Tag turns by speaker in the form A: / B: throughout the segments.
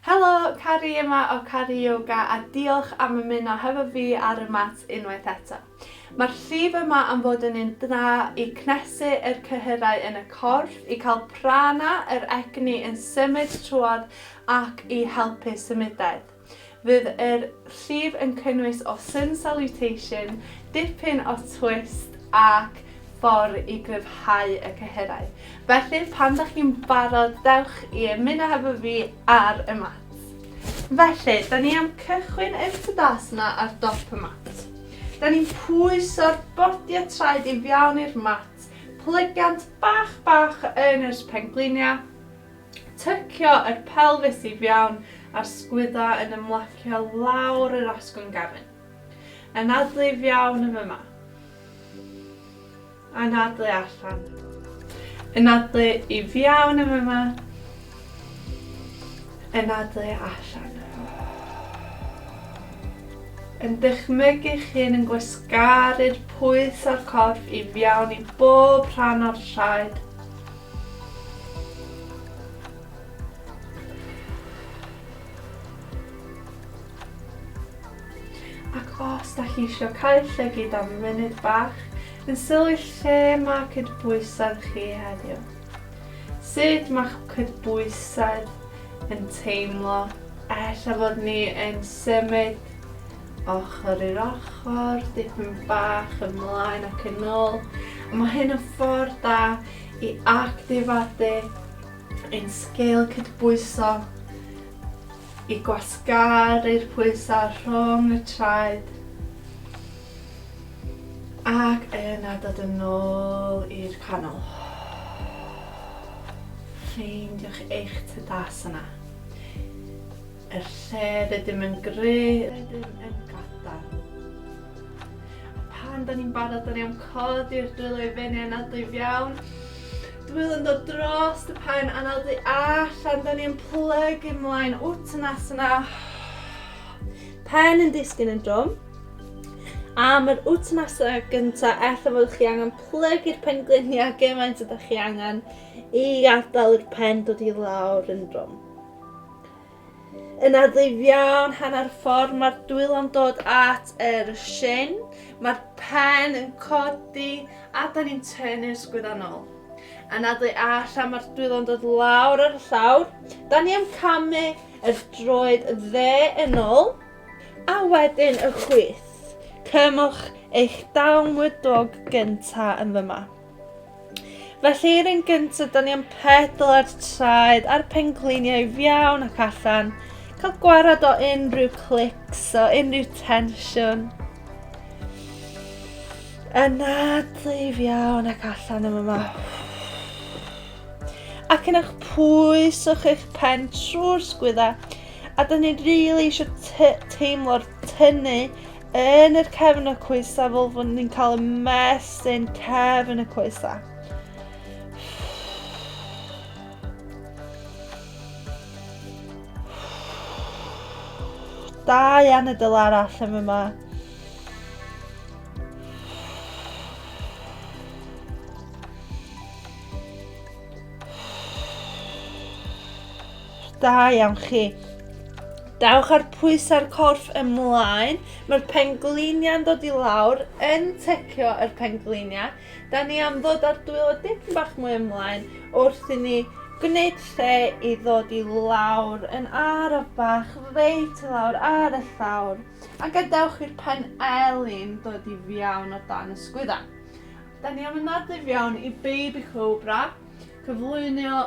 A: Helo, Carrie yma o Carrie Yoga a diolch am ymuno hefo fi ar y mat unwaith eto. Mae'r llif yma am fod yn un da i cnesu yr cyhyrau yn y corff, i cael prana yr egni yn symud trwodd ac i helpu symudedd. Fydd yr llif yn cynnwys o sun salutation, dipyn o twist ac ffordd i gryfhau y cyhyrau. Felly pan dych chi'n barod dewch i ymuno hefo fi ar y mat. Felly, da ni am cychwyn yn Tadasana ar dop y mat. Da ni'n pwyso'r bodiau traed i fiawn i'r mat, plygiant bach bach yn yr pengliniau, Tycio yr pelfis i fiawn a'r sgwydda yn ymlacio lawr yr asgwrn gefn. Anadlu i fiawn yn fyma. Anadlu allan. Anadlu i fiawn yn fyma. Anadlu allan. Yn dychmygu chi'n yn gwasgaru'r pwys a'r corff i fiawn i bob rhan o'r traed. Ac os da chi eisiau cael llygyd am funud bach yn sylwi lle mae cydbwysedd chi heddiw. Sut mae'ch cydbwysedd yn teimlo? Ella fod ni yn symud ochr i'r ochr, dipyn bach ymlaen ac yn ôl. A mae hyn yn ffordd da i actifadu ein sgil cydbwyso i gwasgaru'r pwysau rhwng y traed ac yna dod yn ôl i'r canol. Ffeindiwch eich tydas yna. Er lle rydym yn gry, rydym yn gadarn. A pan da ni'n barod, da ni am codi'r dwylo i fyny a nadw i fiawn. Dwylo yn dod dros y pen a nadw allan, da ni yn plygu ymlaen, uttanasana. Pen yn disgyn yn drwm. A mae'r uttanasana gyntaf, eitha fod chi angen plygu'r pen gliniau gymaint ydych chi angen i gadael i'r pen dod i lawr yn drwm. Yn addif iawn, hanner ffordd mae'r dwylo yn dod at yr shin, mae'r pen yn codi a da ni'n tynnu'r sgwyddannol. Yn addu allan mae'r dwylo yn dod lawr ar y llawr, da ni am camu y droed dde yn ôl a wedyn y chwith. Cymwch eich dawngwydog gyntaf yn fyma. Felly, yr un gyntaf, da ni am pedal ar traed a'r pencliniau fiawn ac allan. Cael gwarad o unrhyw clics, o unrhyw tensiwn. Anadlu fiawn ac allan am yma. Ac yn eich pwys o'ch eich pen trwy'r sgwydda. A da ni'n rili really eisiau teimlo'r tynnu yn yr cefn y coesa fel fod ni'n cael y mesyn cefn y coesa. Da iawn y dyl arall am yma. Da iawn chi. Dawch ar pwys ar corff ymlaen. Mae'r pengliniau'n dod i lawr yn tecio yr pengliniau. Da ni am ddod ar dwylo dim bach mwy ymlaen wrth i ni gwneud lle i ddod i lawr yn araf bach reit i lawr ar y llawr. A gadewch i'r pen elin dod i fiawn o dan y sgwydda. Da ni am ymladd i fiawn i baby cobra, cyflwynio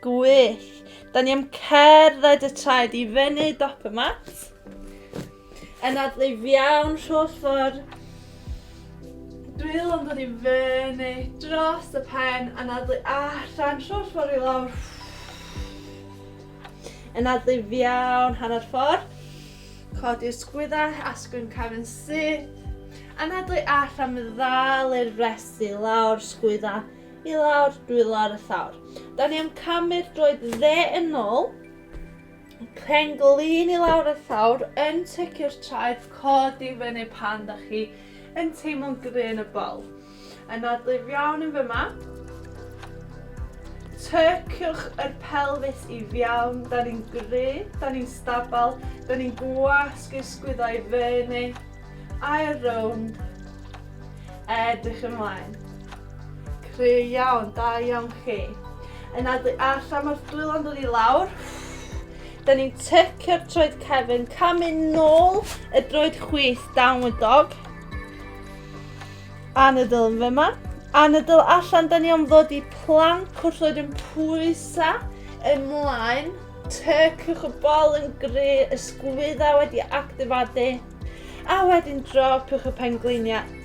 A: Gwych. Da ni am cerdded y traed i fyny dop y mat. Yn adlif iawn rholl ffordd. Dwylo yn dod i fyny dros y pen. Yn adlu allan rholl ffordd i lawr. Yn adlif iawn hanner ffordd. Codi'r sgwyddau, asgwyn cefn syth. Anadlu allan, ddal i'r frest i lawr, sgwydda I lawr, dwylo ar y llawr. Da ni am camu'r droed dde yn ôl. Pen glin i lawr y llawr, yn tycio'r traed, cod i fyny pan da chi yn teimlo'n gry yn y bol. Anadlu'r iawn yn fyma. Tyciwch yr pelfis i fiawn, da ni'n gry, da ni'n stabal, da ni'n gwasgu'r sgwyddau fyny. Ail rownd. Edrych ymlaen. Cry iawn, da iawn chi. Yn adlu allan, mae'r dwylo yn dod i lawr. Da ni'n tecio'r troed cefn, camu nôl y droed chwith downward dog. Anadl yn fyma. Anadl allan, da ni am ddod i plan cwrllwyd yn pwysa ymlaen. Teciwch y bol yn gry, y sgwydda wedi actifadu, a wedyn dropiwch y pengliniau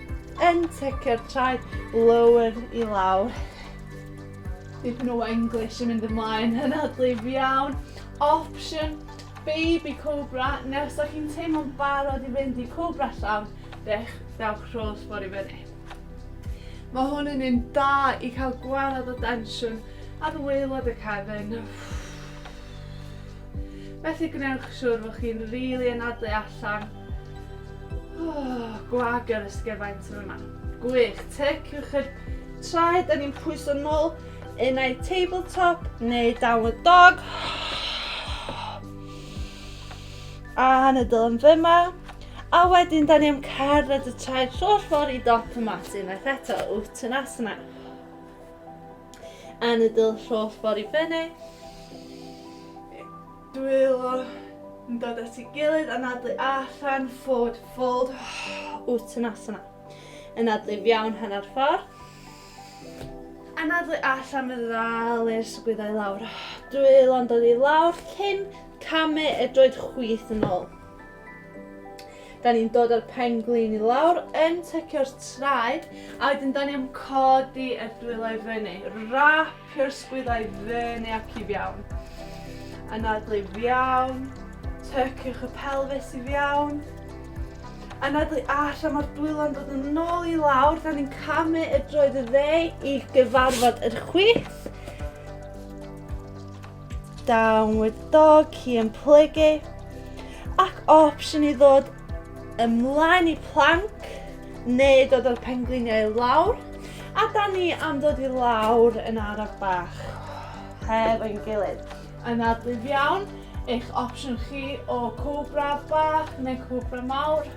A: yn tecio'r traed lower i lawr. Dipyn o English yn mynd ymlaen yn adlif iawn. Option baby cobra, neu os da chi'n teimlo'n barod i fynd i cobra llawn, dech, dewch rholl ffordd i fyny. Mae hwn yn un da i cael gwared o densiwn Ar waelod y cefn. Felly gwnewch siwr fod chi'n rili really anadlu allan. Oh, gwag yr ysgyfaint yn yma. Gwych, teciwch yr traed, da ni'n pwyso nôl yn ei tabletop neu downward dog. A yn y dylem fyma. A wedyn, da ni am cerdded y traed trwy'r ffordd i dop y mat unwaith eto, wt yn asna. Anadl holl ffordd i fyny. Dwylo yn dod at ei gilydd, anadlu allan, forward fold, Uttanasana. Anadlu fiawn hanner ffordd. Anadlu allan fe ddal i'r sgwyddau lawr. Dwylo'n dod i lawr cyn camu y droed chwith yn ôl. Da ni'n dod â'r pen glin i lawr, yn tycio'r traed, a wedyn da ni am codi y dwylo i fyny. Rapio'r sgwyddau i fyny ac i fiawn. Anadlu i fiawn, tyciwch y pelfis i fiawn. Anadlu allan, mae'r dwylo'n dod yn ôl i lawr, da ni'n camu y droed y dde i gyfarfod yr chwith. Down with dog, hi yn plygu. Ac opsiwn i ddod ymlaen i plank, neu dod o'r pengliniau i lawr. A da ni am dod i lawr yn araf bach. Heb ein gilydd. Anadlyf iawn, eich opsiwn chi o cobra bach neu cobra mawr.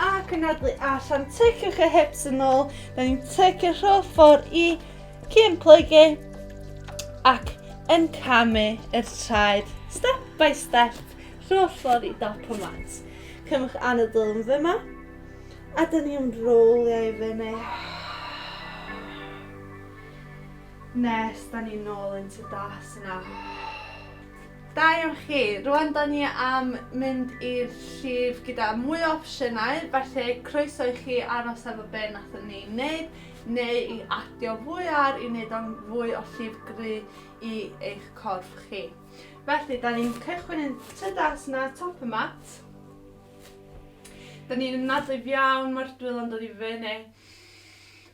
A: Ac yn adlu allan, tyciwch y hips yn ôl. Da ni'n tycio rholl ffordd i cyn plygu ac yn camu yr traed step by step rholl ffordd i dop y mat. Cymwch anadl yn fyma a da ni'n rowlio i fyny. Nes da ni'n ôl into das yna. Da iawn chi. Rwan da ni am mynd i'r llif gyda mwy o opsiynau, felly croeso i chi aros efo be nathon ni neud neu i adio fwy ar i neud o'n fwy o llif gry i eich corff chi. Felly da ni'n cychwyn yn trydas na top y mat. Da ni'n ymnadwy iawn ma'r dwylo'n dod i fyny.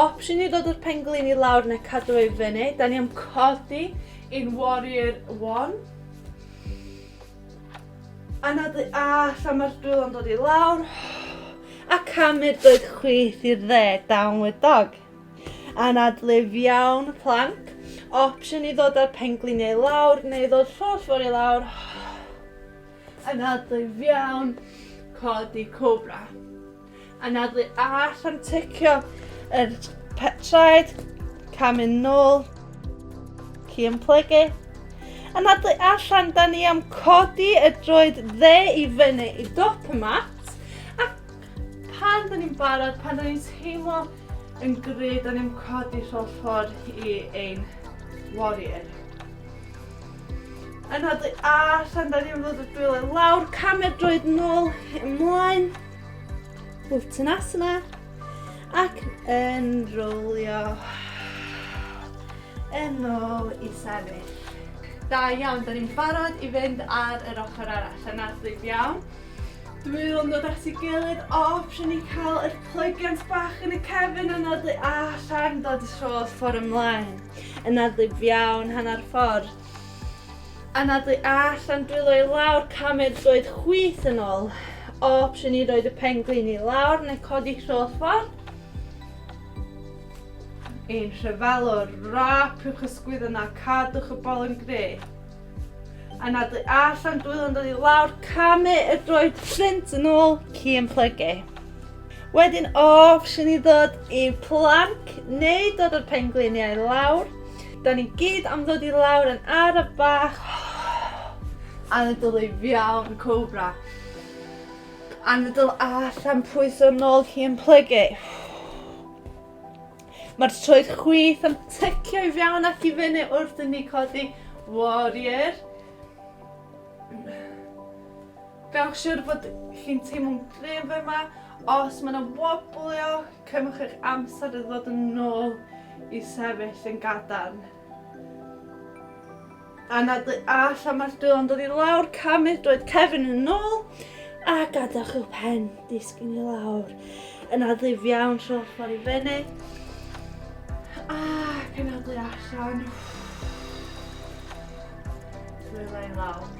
A: Opsiwn i ddod o'r penglin i lawr neu cadw ei fyny. Da ni am codi in warrior one. A nad y allan mae'r dwylo'n dod i lawr. A camu'r doed chwith i'r dde, downward dog. A nad lif iawn, plank. Opsiwn i ddod o'r penglin i lawr neu ddod llall fawr i lawr. A nad lif iawn, codi cobra. Anadlu all am ticio yr traed, cam yn nôl, ci yn plygu. Anadlu allan, da ni am codi y droed dde i fyny i dop y mat. A pan da ni'n barod, pan da ni'n teimlo yn gred, da ni'n codi rholl ffordd i ein warrior. Anadlu allan, da ni'n fod y dwylo lawr, camer droed nôl, ymlaen. Uttanasana. Ac yn rowlio yn ôl i sefyll. Da iawn, da ni'n barod i fynd ar yr ochr arall. Yna, dweud iawn. Dwi yn dod at ei gilydd, o, prynu ni cael yr plygiant bach yn y cefn yn adlu allan, dod y sôs ffordd ymlaen. Yn adlu iawn, hanner ffordd. Anadlu allan, dwylo i lawr, camu'r droed chwith yn ôl. Opsiwn i roed y pen glin i lawr neu codi trwy'r ffordd. Yn rhyfelwr, rapiwch y sgwydden a cadwch y bol yn gre. Anadlu allan, dwylo yn dod i lawr, camu y droed ffrint yn ôl, ci yn plygu. Wedyn opsiwn i ddod i planc neu dod o'r pengliniau lawr. Da ni gyd am ddod i lawr yn araf bach. Anadl ei fiawn, cobra. Anadl allan pwys o'r nôl hi yn plygu. Mae'r troed chwith yn tycio i fiawn ac i fyny wrth i ni codi warrior. Gwnewch siwr bod chi'n teimlo'n gryf yma. Os mae yna woblio, cymwch eich amser i ddod yn ôl i sefyll yn gadarn. A na dy all am mae'r dwylo'n dod i lawr, camu'r dwyd cefn yn ôl a gadewch i'w pen disgyn i lawr. Yna ddif iawn trwy'r ffordd i fyny. A penodlu allan. Dwylo i lawr.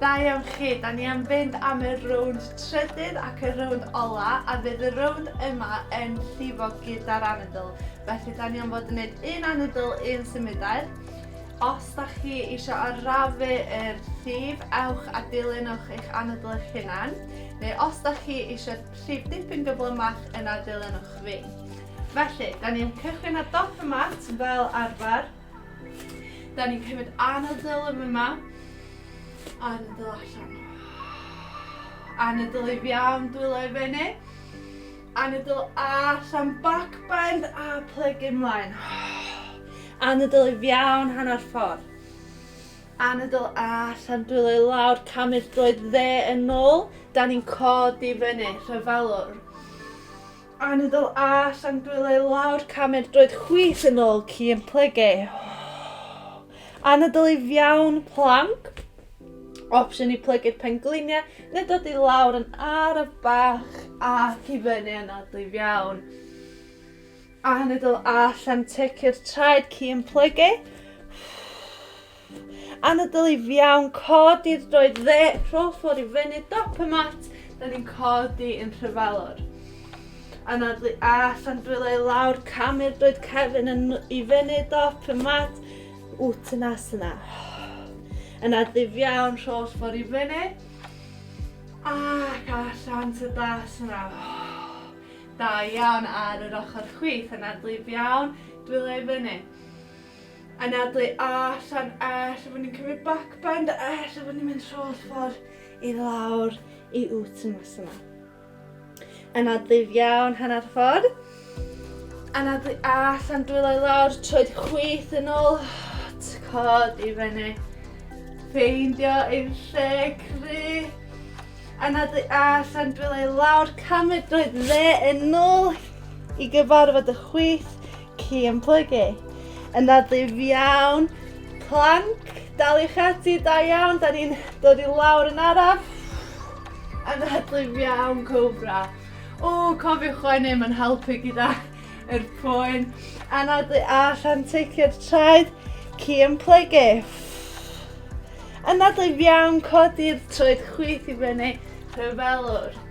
A: Da iawn chi, da ni am fynd am y rownd trydydd ac y rownd ola a fydd y rownd yma yn llifo gyda'r anadl. Felly da ni am fod yn gwneud un anadl, un symudau. Os da chi eisiau arafu yr llif, ewch a dilynwch eich anadl eich hunan, neu os da chi eisiau llif dipyn gyflymach yna dilynwch fi. Felly, da ni'n cychwyn ar dop y mat fel arfer. Da ni'n cymryd anadl yn yma. Anadl allan. Anadl i fiawn dwylo i fyny. Anadl allan back bend a plygu ymlaen. Anadl i fiawn hanner ffordd. Anadl allan dwylo i lawr camu'r droed dde yn ôl. Da ni'n codi fyny, rhyfalwr. Anadl a llan dwylo i lawr camer droed chwith yn ôl ci yn plygu. Anadl i fiawn planc. Opsiwn i plygu'r pengliniau neu dod i lawr yn araf bach ac i fyny anadl i fiawn. Anadl a llan teci'r traed ci yn plygu. Anadl i fiawn, codi'r droed dde, rhol ffordd i fyny, dop y mat, da ni'n codi yn rhyfalwr. Anadlu allan, dwylo i lawr, camu'r droed cefn yn, i fyny, dop y mat, wt yn as yna. Yn adlif iawn, rhol ffordd i fyny. Ac allan to das yna. Da iawn ar yr ochr chwith, yn adlif iawn, dwylo i fyny. anadlu allan ella fod ni'n cymryd back bend a ella fod ni'n mynd trwy'r ffordd i lawr i Uttanasana. Anadlu iawn hanner ffordd. Anadlu allan dwylo i lawr, troed chwith yn ôl, cod i fyny. Ffeindio i'r lle cry. Anadlu allan dwylo i lawr, cymryd droed dde yn ôl i gyfarfod y chwith. Ci yn plygu. Yna dyf iawn. Planc, dal i'ch ati, da iawn. Da ni'n dod i lawr yn araf. Yna dyf iawn, cobra. O, cofiwch chwennu, mae'n helpu gyda yr poen. Yna dyf allan, teicio'r traed. Ci yn plygu. Yna dyf iawn, codi'r troed chwith i fyny. Rhyfelwr.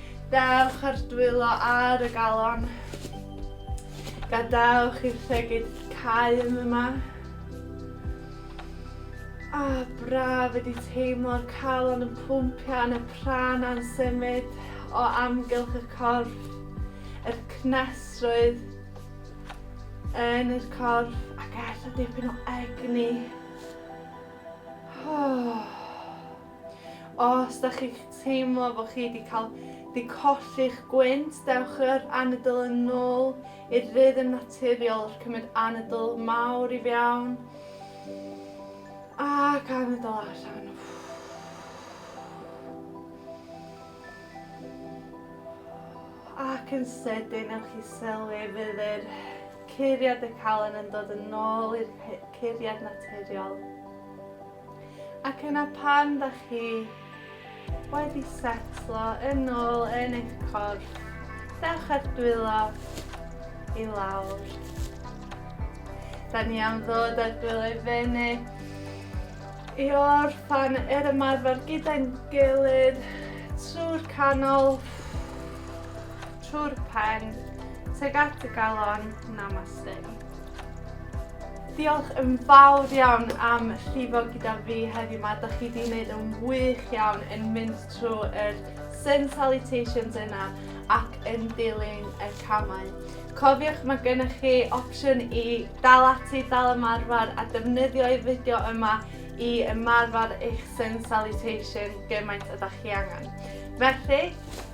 A: Dewch ar dwylo ar y galon. Gadewch i'r llegyd cau yn yma. A ah, braf ydi teimlo'r calon yn pwmpio yn y pran a'n symud o amgylch y corff, yr cnesrwydd yn yr corff ac ella dipyn o egni. Oh. Os da chi'n teimlo bod chi wedi cael di colli'ch gwynt, dewch yr anadl yn nôl i'r rhythm naturiol, cymryd anadl mawr i fiawn, ac anadl allan. Ac yn sydyn, ewch chi sylwi fydd yr curiad y calon yn dod yn ôl i'r curiad naturiol. Ac yna pan da chi wedi setlo yn ôl yn eich corff, dewch â'r dwylo i lawr. Da ni am ddod â'r dwylo i fyny i orffan yr ymarfer gyda'n gilydd trwy'r canol, trwy'r pen, tuag at y galon, namaste. Diolch yn fawr iawn am llifo gyda fi heddiw ma. Da chi wedi gwneud yn wych iawn yn mynd trwy yr sun salutations yna ac yn dilyn y camau. Cofiwch mae gennych chi opsiwn i dal ati, dal ymarfer a defnyddio'r fideo yma i ymarfer eich sun salutation gymaint ydych chi angen. Felly,